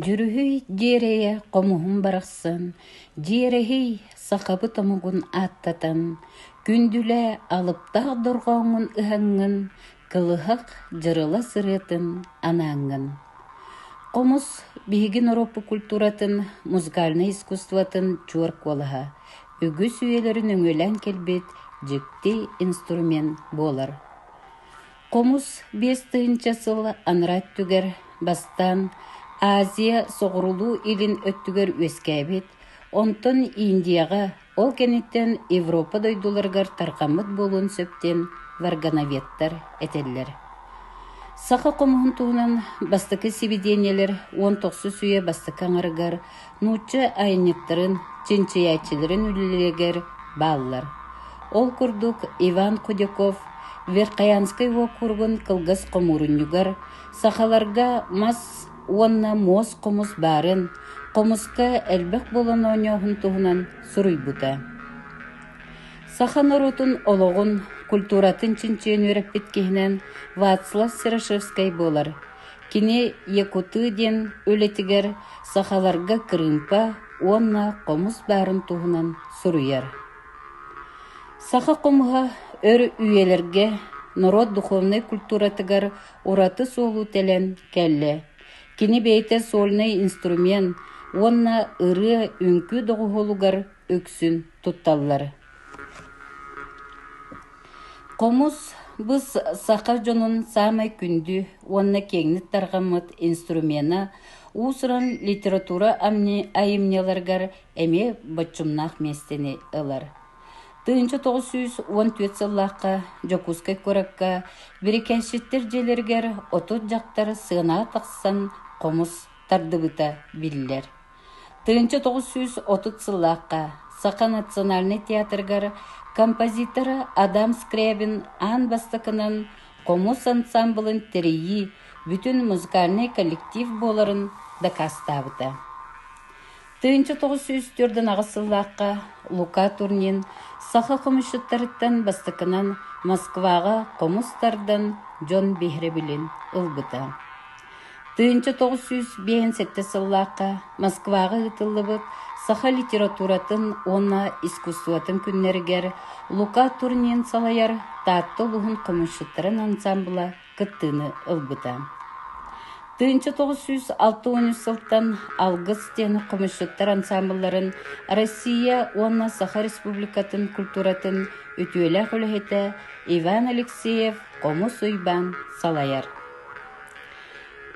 Дьүрүһүй дьиэрэйэ хомуһум барахсан, дьиэрэһий сахабыт омугун ааттатан, күндүлээ алыптаах дорҕооҥҥун ыһаҥҥын, кылыһах дьырыла сырыытын анааҥҥын. Хомус биһигин Ороппо культуратын, музыкальнай искусствотын чуор куолаһа, үгүс үйэлэрин өҥүлээн кэлбит дьикти инструмент буолар Хомус биэс тыһыынча сыл анараа өттүгэр бастаан Азия соҕурулуу-илин өттүгэр үөскээбит, онтон Индияҕа, ол кэнниттэн Европа дойдуларыгар тарҕаммыт буолуон сөп диэн варгановедтар этэллэр. Саха хомуһун туһунан бастакы сибидиэнньэлэр уон тохсус үйэ бастакы аҥарыгар Нуучча айанньыттарын, чинчийээччилэрин үлэлэригэр бааллар. Ол курдук Иван Кудяков Верхоянскай уокуругун кылгас хомуурунньугар сахаларга мас уонна муос хомус баарын, хомуска элбэх буолан оонньооһун туһунан суруйбута. Саха норуотун олоҕун, культуратын чинчийэн үөрэппит киһинэн Вацлав Серошевскай буолар. Кини Якутыы диэн үлэтигэр сахаларга кырыымпа уонна хомус баарын туһунан суруйар. Саха хомуһа өр үйэлэргэ норуот духовнай культуратыгар ураты суолу тэлэн кэллэ. Кини бэйэтэ сольный инструмент уонна ырыа үҥкүү доҕуһуолугар үксүн тутталлар. Хомус быс саха дьонун саамай күндү уонна киэҥник тарҕаммыт инструмена уус-уран литература айымньыларыгар эмиэ боччумнаах миэстэни ылар. Тыынча тоҕус сүүс уон түөрт сыллаахха Дьокуускай куоракка Бирикэншиттэр дьиэлэригэр отут дьахтар сыанаа тахсан хомус тардыбыта биллэр. Тыһыынча тоҕус сүүс отут сыллаахха Саха национальнай театрыгар композитора Адам Скрябин аан бастакынан Хомус ансаамбылын тэрийии бүтүн музыкальнай коллектив буоларын дакаастаабыта. Тыһыынча тоҕус сүүс төрдүн сыллаахха Лука Турнин саха хомусчуттарыттан бастакынан Москваҕа хомус тардан дьон биһирэбилин ылбыта. Тыһыынча тоҕус сүүс биэһин сэттэ сыллаахха Москваҕа ыытыллыбыт саха литературатын уонна искусствотын күннэригэр Лука Турнин салайар Таатта улууһун хомусчуттарын ансаамбыла кыттыыны ылбыта. Тыһыынча тоҕус сүүс алта уон үс сылтан Алгыс диэн хомусчуттар ансаамбылларын Россия уонна Саха Республикатын культуратын үтүөлээх үлэһитэ Иван Алексеев Хомус Уйбаан салайар.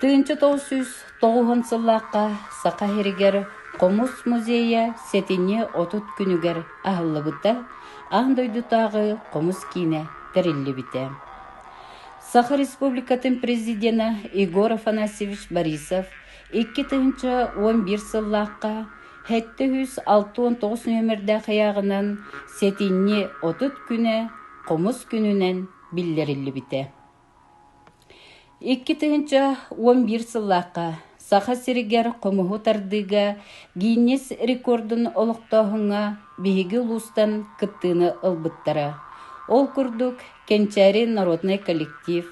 Тыынча тоҕус сүүс тоҕуһун сыллаахха Саха сиригэр Хомус музейа сэтинньи отут күнүгэр аһыллыбыта, аан дойдутааҕы хомус киинэ тэриллибитэ. Саха Республикатын Президенэ Егор Афанасьевич Борисов икки тыһыынча уон биир сыллаахха сэттэ сүүс алта уон тоҕус нүөмэрдээх ыйааҕынан сэтинньи отут күнэ хомус күнүнэн биллэриллибитэ Икки тыһыынча уон биир сыллаахха Саха сиригэр хомуһу тардыыга Гиннесс рекордун олохтооһуҥҥа биһиги улуустан кыттыыны ылбыттара. Ол курдук, Кэнчээри народнай коллектив,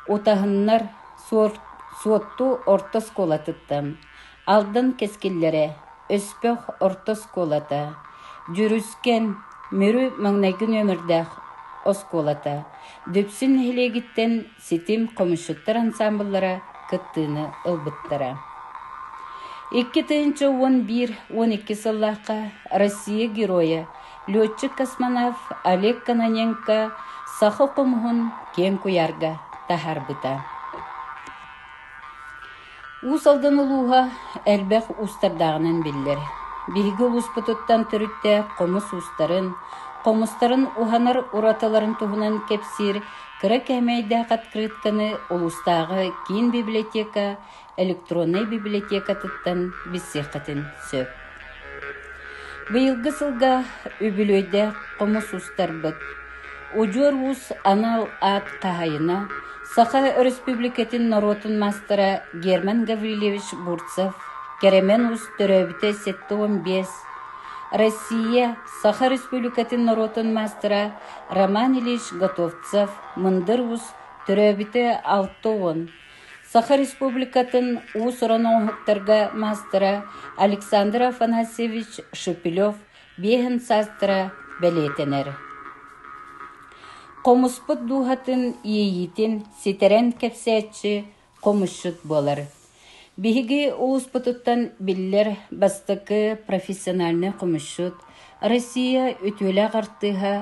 Утаһыннар, Суотту орто оскуолатыттан, Алдан кэскиллэрэ, Өспөх орто оскуолата, Дьүрүскэн, Мүрү маҥнайгы нүөмэрдээх оскуолата, Дүпсүн нэһилиэгиттэн Ситим хомусчуттар ансаамбыллара кыттыыны ылбыттара. Икки тыһыынча уон биир уон икки сыллаахха Россия Геройа, летчик-космонавт Олег Кононенко саха хомуһун киэҥ куйаарга таһаарбыта. Уус Алдан улууһа элбэх уустардааҕынан биллэр. Биһиги улууспутуттан төрүттээх хомус уустарын, хомустарын уһанар уратыларын туһунан кэпсиир кыра кээмэйдээх открытканы улуустааҕы киин библиотека электроннай библиотекатыттан билсиэххитин сөп Быйылгы сылга үбүлүөйдээх хомус устарбыт Удьуор уус анал аат хаһайына, Саха Өрөспүүбүлүкэтин норуотун маастара Герман Гаврильевич Бурцев кэрэмэн уус төрөөбүтэ сэттэ уон биэс, Россия, Саха Республикатын норуотун маастара Роман Ильич Готовцев мындыр уус төрөөбүтэ алта уон Саха Республикатын уус-уран оҥоһуктарга маастара Александр Афанасьевич Шепелев биэһин саастара бэлиэтэнэр. Хомуспут дууһатын иэйиитин ситэрэн кэпсээччи хомусчут буолар. Биһиги улууспутуттан биллэр бастакы профессиональный хомусчут, Россия үтүөлээх артыыһа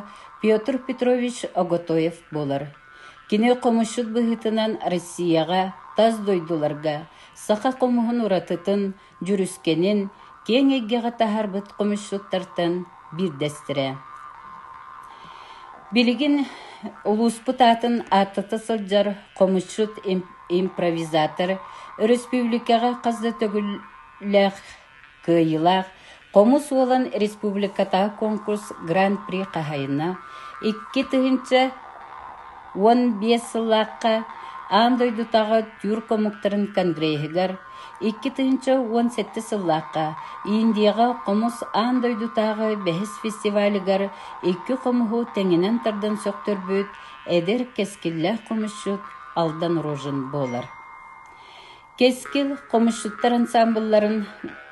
Петр Петрович Оготоев буолар. Кини хомусчут быһыытынан Россияҕа, тас дойдуларга саха хомуһун уратытын, дьүрүскэнин киэҥ эйгэҕэ таһаарбыт хомусчуттартан биирдэстэрэ. Билигин улууспут аатын ааттата сылдьар хомусчут-импровизатор, өрөспүүбүлүкэҕэ хас да төгүллээх Кыайыылаах Хомус уолан республикатааҕы куонкурс Гран-при хаһайына икки тыһыынча уон биэс сыллаахха аан дойдутааҕы түүр хомуктарын конгреһыгар икки тыһыынча уон сэттэ сыллаахха Индияҕа хомус аан дойдутааҕы бэһис фестивалыгар икки хомуһу тэҥинэн тардан сөхтөрбүт эдэр кэскиллээх хомусчут Алдан Рожин буолар Кэскил хомусчуттар ансаамбылларын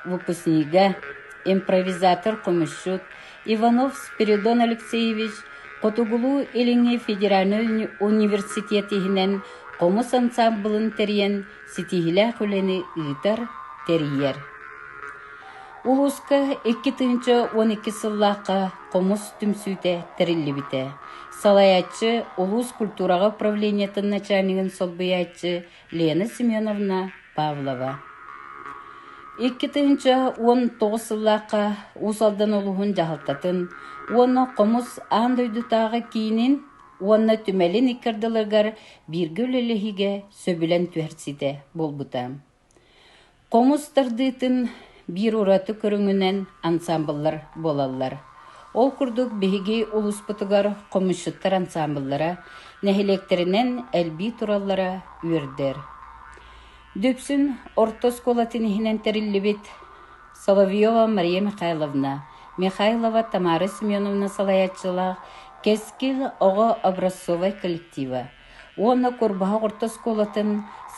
выпускнига, импровизатор хомусчут Иванов Спиридон Алексеевич Хотугулуу-Илиҥҥи федеральнай университет иһинэн хомус ансаамбылын тэрийэн ситиһиилээх үлэни ыытар, тэрийэр. Улууска икки тыһыынча уон икки сыллаахха хомус түмсүүтэ тэриллибитэ. Салайааччы, улуус культураҕа управлениетын начальнигын солбуйааччы Лена Семеновна Павлова Икки тыһыынча уон тоҕус сыллаахха Уус Алдан улуһун дьаһалтатын уонна Хомус аан дойдутааҕы киинин уонна түмэлин икки ардыларыгар бииргэ үлэлэһиигэ сөбүлэҥ түһэрсиитэ буолбута. Хоҥус тардыытын биир ураты көрүҥүнэн ансаамбыллар буолаллар. Ол курдук, биһиги улууспутугар хомусчуттар ансаамбыллара нэһилиэктэринэн элбии тураллара үөрдэр. Дүпсүн орто оскуолатын иһинэн тэриллибит Соловьева Мария Михайловна, Михайлова Тамара Семеновна салайааччылаах Кэскил оҕо образцовай коллектива уонна Курбаһах орто оскуолатын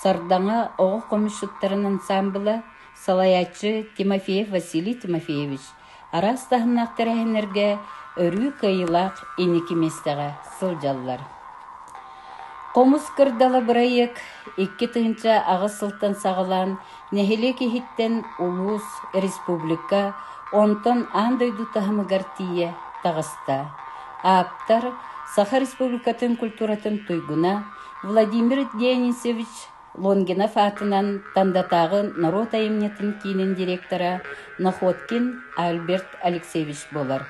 Сардаҥа оҕо хомусчуттарын ансаамбыла, салайааччы Тимофеев Василий Тимофеевич араас таһымнаах тэрээһиннэргэ өрүү кыайыылаах иники миэстэҕэ сылдьаллар. Хомус кырдала бырайыак икки тыһыынча аҕыс сылтан саҕалаан Нэһилиэк иһиттэн улуус, республика, онтон аан дойду таһымыгар тиийэ таҕыста. Ааптар, Саха Республикатын культуратын туйгуна Владимир Дионисович Лонгинов аатынан Тандатааҕы норуот айымньытын киинин директора Находкин Альберт Алексеевич буолар.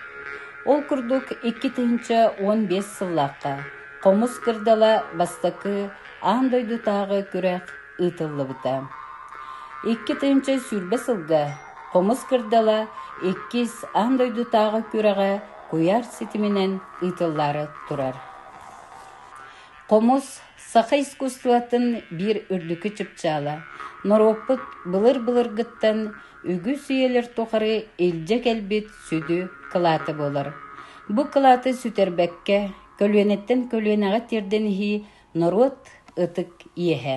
Ол курдук икки тыһыынча уон биэс сыллаахха Хомус кырдала бастакы аан дойдутааҕы күрэх ыытыллыбыта. Икки тыһыынча сүүрбэ сылга Хомус кырдала иккис аан дойдутааҕы күрэҕэ куйаар ситиминэн ыытыллаары турар. Хомус саха искусствотын биир үрдүкү чыпчаала. Норуоппут былыр-былыргыттан үгүс үйэлэр тухары илдьэ кэлбит сүдү кылааты буолар. Бу кылааты сүтэрбэккэ, көлүөнэттэн көлүөнэҕэ тиэрдэн иһии Норуот ытык иэһэ